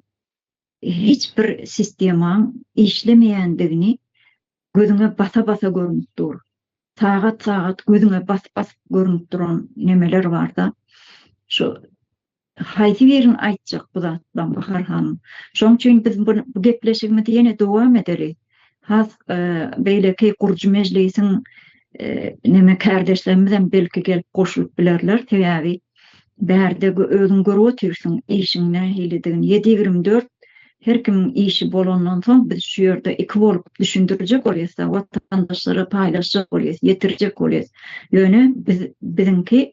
hiç bir sistemaň işlemeýändigini gözüňe basa basa görünip dur. Sagat sagat gözüňe basyp basyp görünip duran nemeler barda. Şu Haýsy birini aýtjak bu zatlaň Bahar hanym? Şoň üçin biz bu gepleşigimizi ýene dowam edeli. Has beýleki gurujy mejlisiň neme kärdeşlerimizem belki gelip goşulyp bilerler. Sebäbi bärde özüň görüp otyrsyň işiň nähilidigini. Ýedi ýigrimi dört her kimiň işi bolandan soň biz şu ýerde iki bolup düşündirjek bolýas-da, watandaşlara paýlaşjak bolýas, ýetirjek bolýas. Ýöne biz biziňki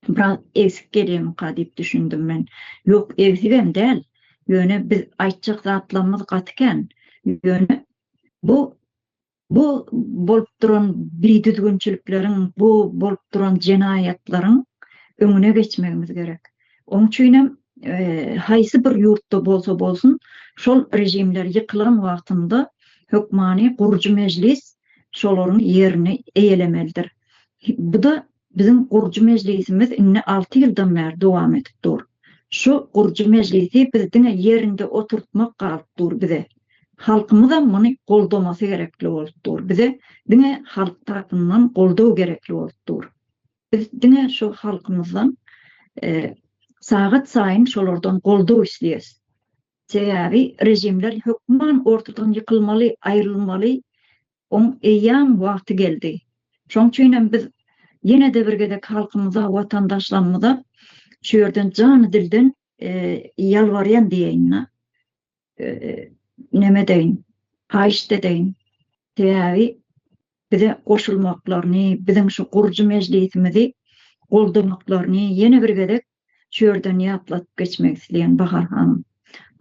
Biraz egsik gelýämika diýip düşündim men. Ýok, egsigem däl. Ýöne biz aýtjak zatlarymyz gaty kän. Ýöne bu bu bolup duran bidüzgünçilikleriň, bu bolup duran jenaýatlaryň öňüne geçmegimiz gerek. Oň üçinem haýsy bir ýurtda bolsa bolsun, şol režimler ýykylan wagtynda hökmany gurujy mejlis şolaryň ýerini eýelemelidir. Bu-da Biziň gurujy mejlisimiz indi alty ýyldan bäri dowam edip dur. Şu gurujy mejlisi biz diňe ýerinde oturtmak galyp dur bize. Halkymyzam muny goldamasy gerekli bolup dur. Bize diňe halk tarapyndan goldaw gerekli bolup dur. Biz diňe şu halkymyzdan sagat saýyn şolardan goldaw isleýäs. Sebäbi režimler hökman ortadan ýykylmaly, aýrylmaly, Oň eýýäm wagty geldi. Şoň üçinem biz ýene-de bir gezek halkymyza, watandaşlarymyza şu ýerden jany-dilden ýalbarýan diýeýin-de, neme edeýin, haýyşt edeýin, sebäbi bize goşulmaklaryny, biziň şu gurujy mejlisimizi goldamaklaryny ýene bir gezek Şu ýerden ýatladyp geçmek isleýän Bahar hanym.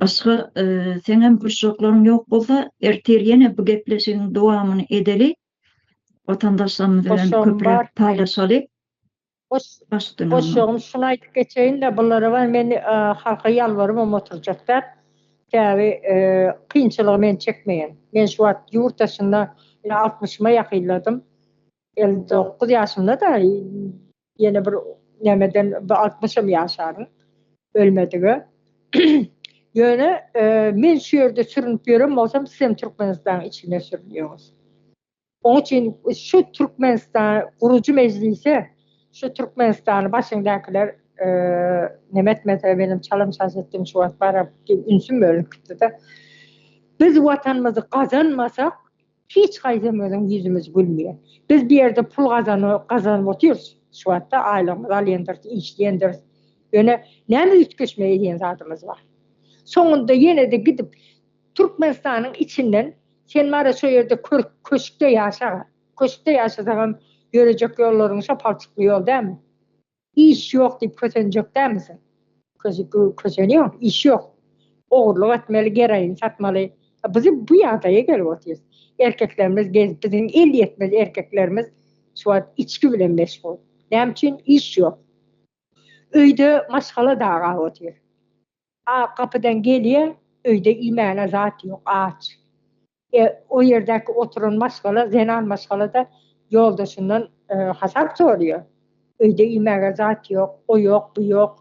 Başga seňem gurşaklaryň ýok bolsa, ertir ýene bu gepleşigiň dowamyny edeli. Watandaşlarymyz bilen köpräk paýlaşaly. Gurşagymy şuny aýdyp geçeýin-le, bulara bar men halka ýalbarybam oturjak däl. Sebäbi kynçylygy men çekmeýän. Men şu wagt ýurt daşynda altmyşyma ýakynladym. Elli dokuz ýaşymda-da Ýene bir nämeden bu altmyşam ýaşaryň ölmedige. Ýöne men şu ýerde sürünip ýören bolsam sizem Türkmenistanyň içinde sürünýäňiz. Oň üçin şu Türkmenistan gurujy mejlise şu Türkmenistany başyňdakylar neme etmese menem çalym çaş etdim şu wagt baram ünsüm bölünip gitdi-de. Biz watanymyzy gazanmasak Hiç haýsam özüň ýüzümiz gülmeýär. Biz bu ýerde pul gazanok, gazanyp otyrys. Şu wagtda aýlygymyzy alýandyrs, işleýändiris. Ýöne näme üýtgeşme edýän zadymyz bar? Soňunda ýene-de gidip Türkmenistanyň içinden sen bar-a şo ýerde kör köşkde ýaşa-a. Köşkde ýaşasaňam ýörejek ýollaryň şo palçykly ýol dälmi? Iş ýok diýip kösenjek dälmisiň? Kösenýäň, iş ýok. Ogurlyk etmeli, geroin satmaly. Biz bu ýagdaýa gelip otyrys. Erkeklerimiz biz, biziň el ýetmez erkeklerimiz şu wagt içgi bilen meşgul. Näme üçin? Iş ýok. Öýde maşgala dagap otyr. Ak gapydan gelýän, öýde iýmäne zat ýok, aç. E, o ýerdäki oturan maşgala, zenan maşgala-da ýoldaşyndan hasap soraýar. Öýde iýmäge zat ýok, o ýok, bu ýok.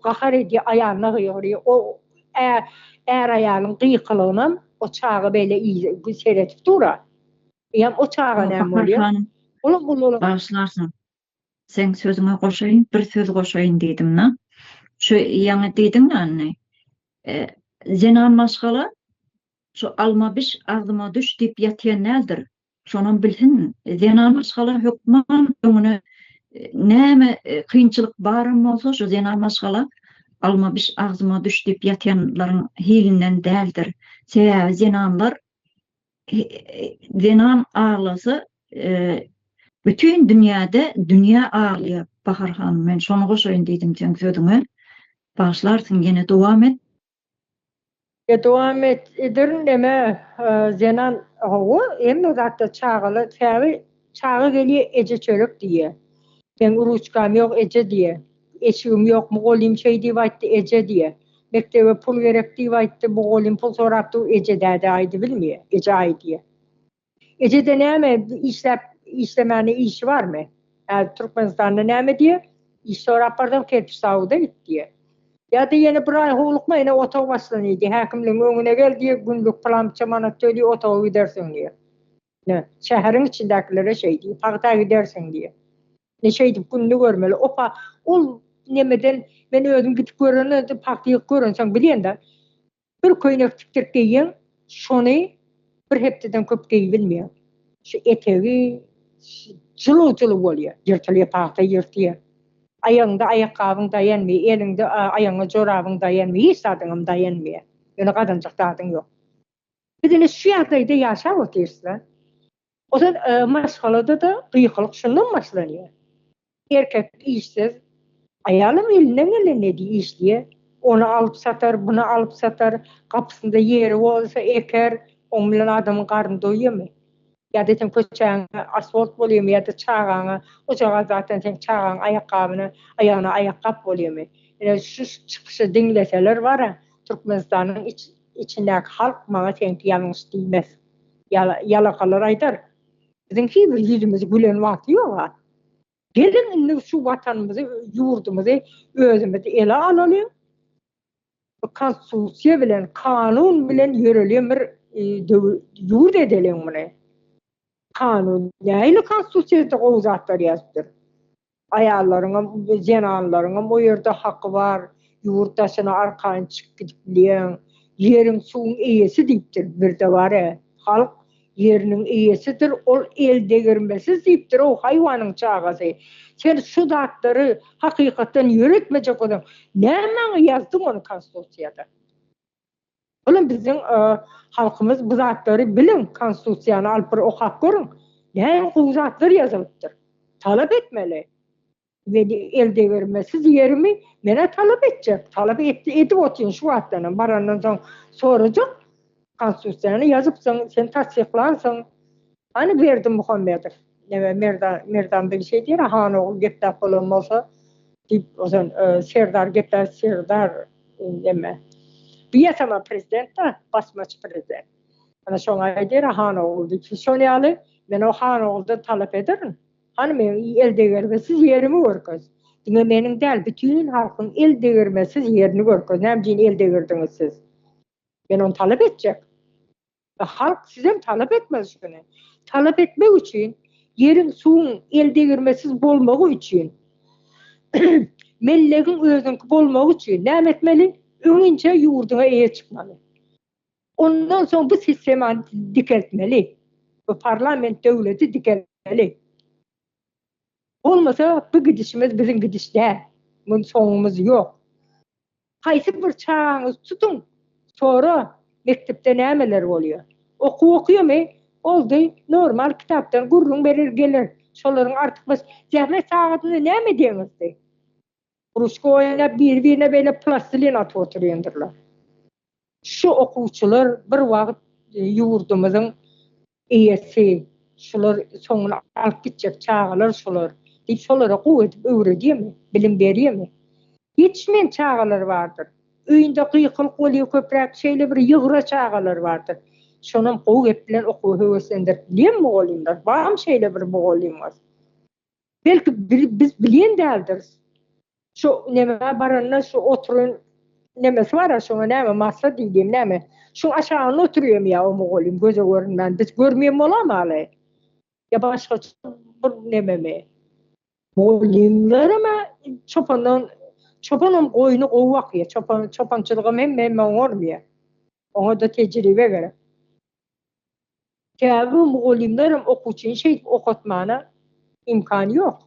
Gahar edýär, aýalyna gygyrýar. O är-aýalyň gykylygynam o çaga beýle seredip dur-a. Eýýäm o çaga näme bolýar? Bagyşlarsyň. Seň sözüňe goşaýyn, bir söz goşaýyn diýdim-de. Şu ýaňy diýdiň ýany, zenan maşgala şu alma biş, agzyma düş diýip ýatýan däldir. Şonam bilsin, zenan maşgala hökman öňüne näme kynçylyk baram bolsa, şu zenan maşgala alma biş, agzyma düş diýip ýatýanlaryň hilinden däldir. Sebäbi zenanlar Zenan aglasa, bütin dünýäde dünýä aglaýar, Bahar hanym, men şony goşaýyn diýdim seň sözüňe. Bagyşlarsyň, ýene dowam et. Ýa dowam et, ederin, neme, Zenan, hawa, hemme zatda çagalar, käbir Çaga gelýä eje çörek diýýä. Meň ruçkam ýok eje diýýä. Eşigim ýokmy golym şeý diýip aýtdy eje diýýä. Mekdebe pul gerek diýip aýtdy bu golym pul sorap dur eje däde aýdybilmýä eje aý diýýä. Ejede näme işläp işlemäne işi barmy? Häzir Türkmenistanda näme diýýä? Iş sorap barsam kerpiç zawuda git diýýä. Ýa-da ýene bir aý howlukma ine otag başlany diýýä häkimligiň öňüne gel diýýä günlük pylança manat töli otaga gidersiň diýýä. Ine, şäheriň içindäkilere şeý diý, pagta gidersiň diý. Ine, şeýdip gününi görmeli. Opa, ol nemeden men özüm gidip göreninden soň pagta ýygyp görensoň bilýän-dä. Bir köýnek tikdirip geýýäň, şony bir hepdeden köp geýibilmeýär. Şu etegi jylyw-jylyw bolýar. Ýyrtylýar, pagta ýyrtýar. Aýagyňda aýakgabyň daýanmaýar, eliňde, aýagyňa jorabyň daýanmaýar, hiç zadyňam daýanmaýar. Ýöne gazanjak zadyň ýok. Biz ine şu ýagdaýda ýaşap otyrys-la. Ose maşgalada-da gykylyk şundan başlanýar. Erkek işsiz, aýalam elinden gelenini işleýär. Ony alyp satar, buny alyp satar, gapysynda ýeri bolsa eker, oň bilen adamyň garny doýýamy? Ýa-da seň köçäňe asfalt bolýamy ýa-da çagaňa, ojagaz zatdan seň çagaň aýakgabyna, aýagyna aýakgap bolýamy? Ine şu çykyşy diňleseler bara, Türkmenistanyň iç, Içindäki halk maňa seňki ýalňyş diýmez. Ýalakalar aýdar, Biziň hiýbir ýüzümizi gülen wagty ýog-a. Geliň indi şu watanymyzy, ýurdumyzy özümiz ele alalyň. Bu konstitusiýa bilen, kanun bilen ýörelýän bir ýurt edeliň muny. Kanun, nähili konstitusiýada gowy zatlar ýazypdyr. Aýallaryňam, zenanlaryňam o ýerde haky bar. Ýurt daşyna arkaýyn çykyp gidip bilýäň. Ýeriň, suwuň eýesi diýipdir. Birde bar-ä, halk ýeriniň eýesidir, ol eldegirmesiz diýipdir-ow, haýwanyň çagasy. Sen şu zatlary hakykatdan ýöretmejek bolsaň, nämäňe ýazdyň ony Konstitusiýada? Olam biziň halkymyz bu zatlary biliň konstitusiýany alyp bir okap görüň näme gowy zatlar ýazylypdyr talap etmeli meni el degirmesiz ýerimi menä talap etjek talap etdi edip otyryn şu wagtdanam barandan soň sorajak konstitusiýany ýazypsyň sen tassyklansyň Hany Berdimuhamedow, neme Merdan, Merdan bir şey diýer, han ogul gepläp bolan bolsa diýip, ozan Serdar gepläp, Serdar neme, bu ýasama prezident-da, basmaçy prezident. Ana şoňa aýdýar, han ogul diýip, siz şol ýaly, men o han oguldan talap ederin, hany meniň eldegirmesiz ýerimi görkez, diňe meniň däl, bütin halkyň eldegirmesiz ýerini görkez, näme üçin eldegirdiňiz siz? Men ony talap etjek. Halk sizden talap etmez şuny. Talap etmek üçin ýeriň, suwuň eldegirmesiz bolmagy üçin, mellegiň özüňki bolmagy üçin näme etmeli? Öňinçä ýurduňa eýe çykmaly. Ondan soň bu sistemany dikeltmeli. Bu parlament döwleti dikeltmeli. Bolmasa bu gidişimiz biziň gidiş däl. Muny soňumyz ýok. Haýsy bir çagaňyzy tutuň, sora, mekdepde nämeler bolýar. Okuw okyamy? Boldy, normal kitapdan gürrüň berer geler. Şolaryň artykmaç zähmet sagadynda näme edýäňizdi? Kružka oýnap, biri-birine beýle plastilin atyp oturýandyrlar. Şu okuwçylar bir wagt ýurdumyzyň Eýesi, Şular soňuny alyp gitjek çagalar şular diýip şolara gowy edip öwredýärmi, bilim berýärmi? Ýetişmeýän çagalar bardyr. Öýünde gykylyk bolýar köpräk, şeýle bir ýygra çagalar bardyr. Şonam gowy gep bilen okuwa höweslendirip bilýär mugallymlar. Barmy şeýle bir mugallymyňyz? Belki biz bilýän däldiris. Şu nämä baranda şu oturan nämesi bar-a, şoňa näme, masa diýdim näme. Şuň aşagynda oturýarmy ýa o mugallym göze görünmän, biz görmeýän bolamyaly? Ýa başga bir nämemi? Mugallymlaram-a çopandan, çopanam goýny gowy bakýar, çopan, çopançylygam hemme-hemme oňarmyýa. Oňa-da tejribe gerek. Käbir mugallymlar hem okuwçyny şeýdip okatmana imkan ýok.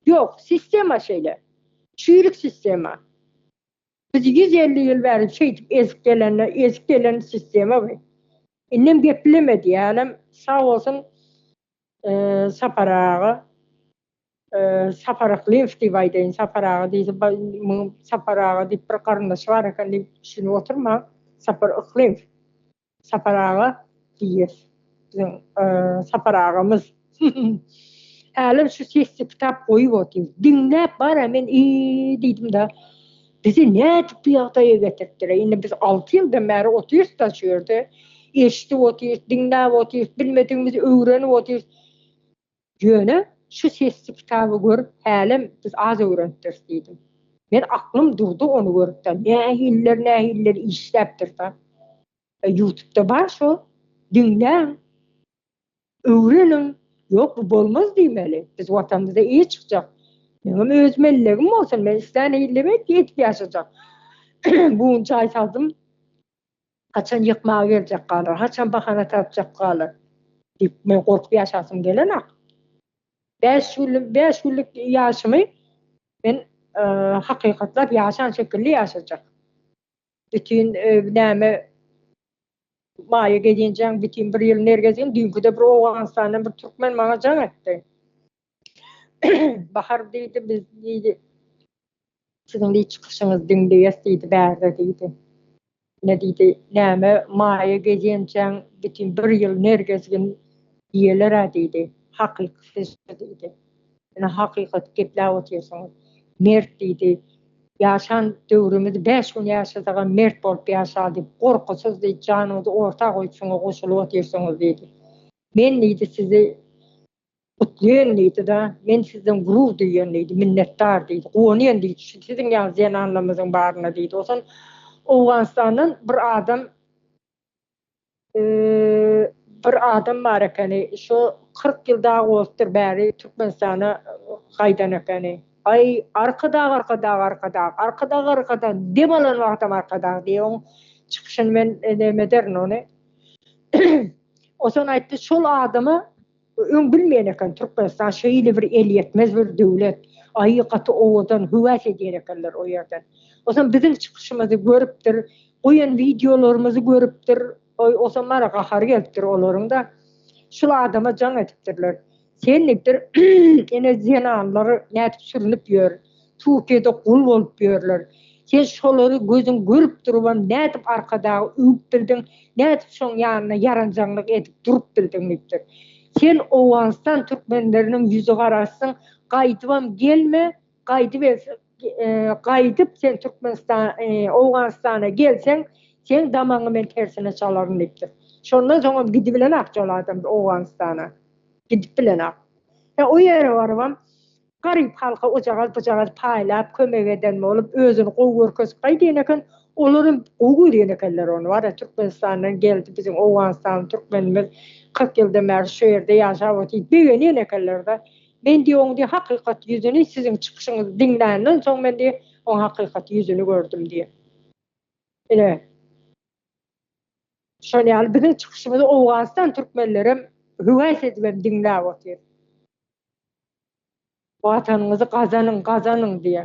Ýok, sistema şeýle. Çüýrük sistema. Biz ýüz elli ýyl bäri şeýdip ezip gelende, ezip gelen sistema bu. Indem geplemedi ýalem, sag bolsun Sapar aga. Sapar Aklyýew diýip aýdaýyn. Sapar aga diýse, munuň Sapar aga diýip bir garyndaşy bar eken diýip düşünip oturmaň. Sapar Aklyýew. Sapar aga diýýäs. Biziň Sapar agamyz. Hälem şu sesli kitap goýup otyr. Diňläp bar-a men eý diýdim-de. Bizi nädip bu ýagdaýa getiripdir-eý? Indi biz alty ýyldan bäri otyrys-da şu ýerde. Eşidip otyrys, diňläp otyrys, bilmedigimizi öwrenip otyrys. Ýöne şu sesli kitaby görüp hälem biz az öwrenipdiris diýdim. Men aklym durdy ony görüpden. Nähiller nähiller işläpdirda. Ýutubda bar şo. Diňläň. Öwreniň. Ýok bu bolmaz diýmeli. Biz watanymyzda eý çykjak. Meňem öz mellegim bolsun. Men islän ýerleme edip ýaşajak. Bu gün jaý saldym. Haçan ýykmaga geljek galar, haçan bahana tapjak galar diýip, men gorkup ýaşasym gelenok. Bäş günlük, bäş günlük ýaşymy men hakykatlap ýaşan şekilli ýaşajak. Bütin näme maýa gelinjeň, bütin bir ýyl nergezin, düýnküde bir Owganystandan bir türkmen maňa jaň etdi. Bahar diýdi, biz diýdi, siziň diýdi çykyşyňyzy diňleýäs diýdi bärde diýdi. Ine diýdi, näme maýa gezenjeň bütin bir ýyl nergezgin iýeler-ä diýdi, hakyky siz şu diýdi. Ine hakykaty gepläp otyrsyňyz. Mert diýdi, ýaşan döwrümizi bäş gün ýaşasagam mert bolup ýaşaly diýip, gorkusyz diýdi, janyňyzy orta goýup şuňa goşulyp otyrsyňyz diýdi. Men diýdi sizi Gutlaýyn diýdi-de, Men sizden gurur duýýan diýdi, minnetdar diýdi, guwanýan diýdi şu siziň ýaly zenanlarymyzyň baryna diýdi. Onsoň Owganystandan bir adam bir adam bar ekeni, şo kyrk ýyl dagy bolupdyr bäri Türkmenistana gaýdan ekeni. Aý, Arkadag, Arkadag, Arkadag, Arkadag, Arkadag, dem alan wagtam Arkadag diýip oň çykyşyny men neme ederin ony. Onsoň aýtdy, şol adama Öň bilmeýän eken Türkmenistan şeýle bir elýetmez bir döwlet. Aý gaty owadan höwes edýär ekenler o ýerden. Otam biziň çykyşymyzy görüpdir, goýan wideolarymyzy görüpdir. Oý otam bana gahary gelipdir olaryňda. Şul adama jaň edipdirler. Sen diýipdir ene zenanlar nädip sürünip ýör. Tupiýede gul bolup ýörler. Sen şolary gözüň görüp durubam nädip Arkadaga öwüp bildiň, nädip şoň ýanynda ýaranjaňlyk edip durup bildiň diýipdir. Sen Owganystan türkmenleriniň ýüzi garasyň, gaýdybam gelme, gaýdyp elsen, gaýdyp sen Türkmenistan, Owganystana gelseň, seň damagyňy men tersine çalaryn diýipdir. Şondan soňam gidibilenok şol adam Owganystana. Gidip bilenok. He o ýere barybam Garyp halka ojagaz-bujagaz paýlap, kömek eden bolup, özüni gowy görkezip gaýdýan eken. Olar hem gowy görýän ekenler ony. Wara, Türkmenistandan geldi biziň owganystanly türkmenimiz, kyrk ýyldan bäri şu ýerde ýaşap otyr diýip begenýän ekenler-de. Men diýýär, oň diýýär, hakykat ýüzüni siziň çykyşyňyzy diňländen soň men diýýär, oň hakykat ýüzüni gördüm diýýär. Ine, şol ýaly biziň çykyşymyzy owganystan türkmenleri hem höwes edibem diňläp otyr. Watanyňyzy gazanyň, gazanyň diýýä.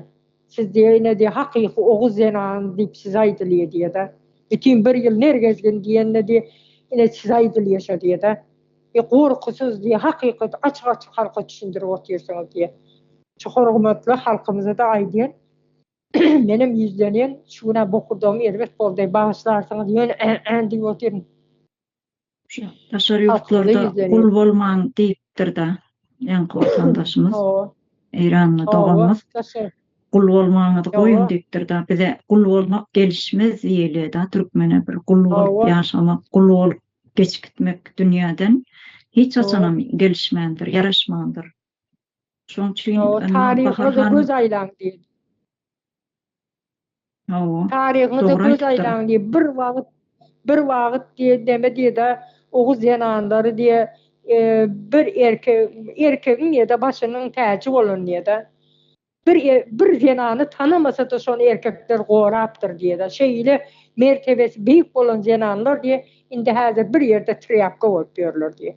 Siz diýýä ine diýýä hakyky oguz zenany diýip size aýdylýa diýýä-de. Bütin bir ýyl ner gezgin diýende diýýä ine size aýdylýa şo diýýä-de. E gorkusyz diýýä hakykaty açyk açyk halka düşündirip otyrsyňyz diýýä. Şu hormatly halkymyza-da aýdýan menem ýüzlenýän şu günä bokurdagymy erbet boldy bagyşlarsyňyz ýöne ä-ä diýip otyryn. Şu daşary ýurtlarda gul bolmaň diýipdir-de, ýaňky watandaşymyz. Hawa. Eýranly doganymyz. Gul bolmaňyzy goýuň diýipdir-de, bize gul bolmak gelişmez diýilýär-de türkmene bir gul bolup ýaşamak, gul bolup geçip gitmek dünýäden hiç haçanam gelişmändir, ýaraşmandyr. Şoň üçin Ýok, tarygyňyza göz aýlaň diýdi. Hawa. Tarygyňyza göz aýlaň diýip, bir wagt, bir wagt diýdi, näme diýdi, oguz zenanlary diýdi, bir erkek, erkegiň diýdi, başynyň täji bolan diýdi. Bir er bir zenany tanamasa-da şony erkekler gorapdyr diýeda. Şeýle mertebesi beýik bolan zenanlar diýe indi häzir bir ýerde trýapka bolup ýörler diýe.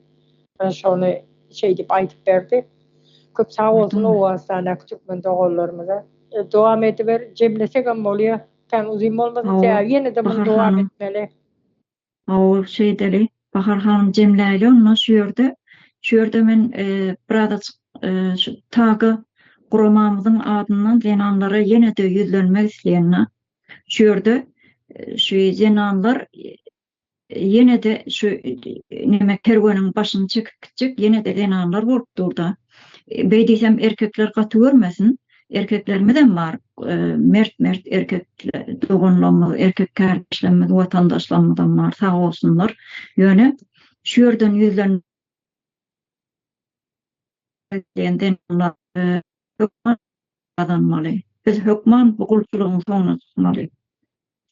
Men şony şeýdip aýdyp berdi. Köp sag bolsun Owganystandaky türkmen doganlarymyza. Dowam ediber, jemlesegem bolýa, kän uzyn bolmasyn sebäbi ýene-de muny dowam etmeli. Hawa ol şeýdeli. Bahar hanym jemläýli onda şu ýerde. Şu ýerde men birazajyk şu TAG-a guramamyzyň adyndan zenanlara ýene-de ýüzlenmek isleýän. Şu ýerde şu zenanlar ýene-de şu neme kerweniň başyny çekip gitjek ýene-de zenanlar bolup dur-da. Beý diýsem erkekler gaty görmesin. erkeklerimizem bar, mert-mert erkek doganlarymyz, erkek kärdeşlerimiz, watandaşlarymyzam bar, sag bolsunlar. Ýöne şu ýerden ýüzlenmek Biz hökman bu gulçulygyň soňuna çykmaly.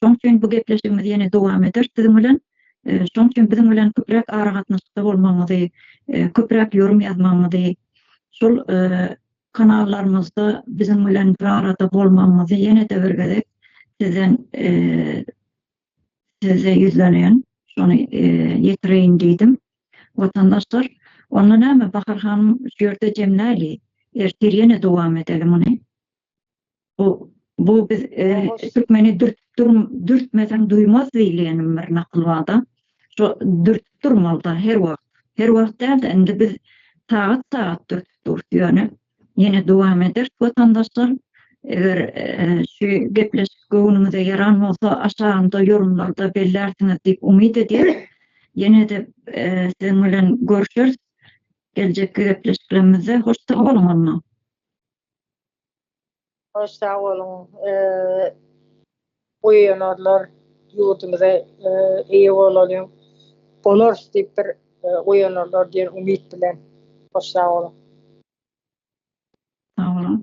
Şoň üçin bu gepleşigimiz ýene dowam eder siziň bilen. Şoň üçin biziň bilen köpräk aragatnaşykda bolmagyňyzy, köpräk ýörüm ýazmagyňyzy, şol kanallarymyzda biziň bilen bir arada bolmagyňyzy ýene-de bir gezek sizden size ýüzlenýän. Şony ýetireýin diýdim. Watandaşlar, onda näme Bahar hanym şu ýerde jemläli. Ertir ýene dowam edeli muny. Bu bu biz türkmeni dürtmeseň duýmaz diýilýänem bir nakyl barda. Şu dürtüp durmalyda her wagt. Her wagt däl-de indi biz sagat-sagat dürtüp durus ýöne ýene dowam eder watandaşlar. Eger şu gepleşik göwnüňize ýaran bolsa aşagynda ýorumlarda bellärsiňiz diýip umyt edýärin. Ýene-de siziň bilen görşeris geljekki gepleşiklerimizde. Hoş sag boluň onda. Köp sag boluň. Bu ýenarlar ýurdumyza eýe bolalyň. Bolarys diýip bir oýanarlar diýen umyt bilen. Köp sag boluň. Sag boluň.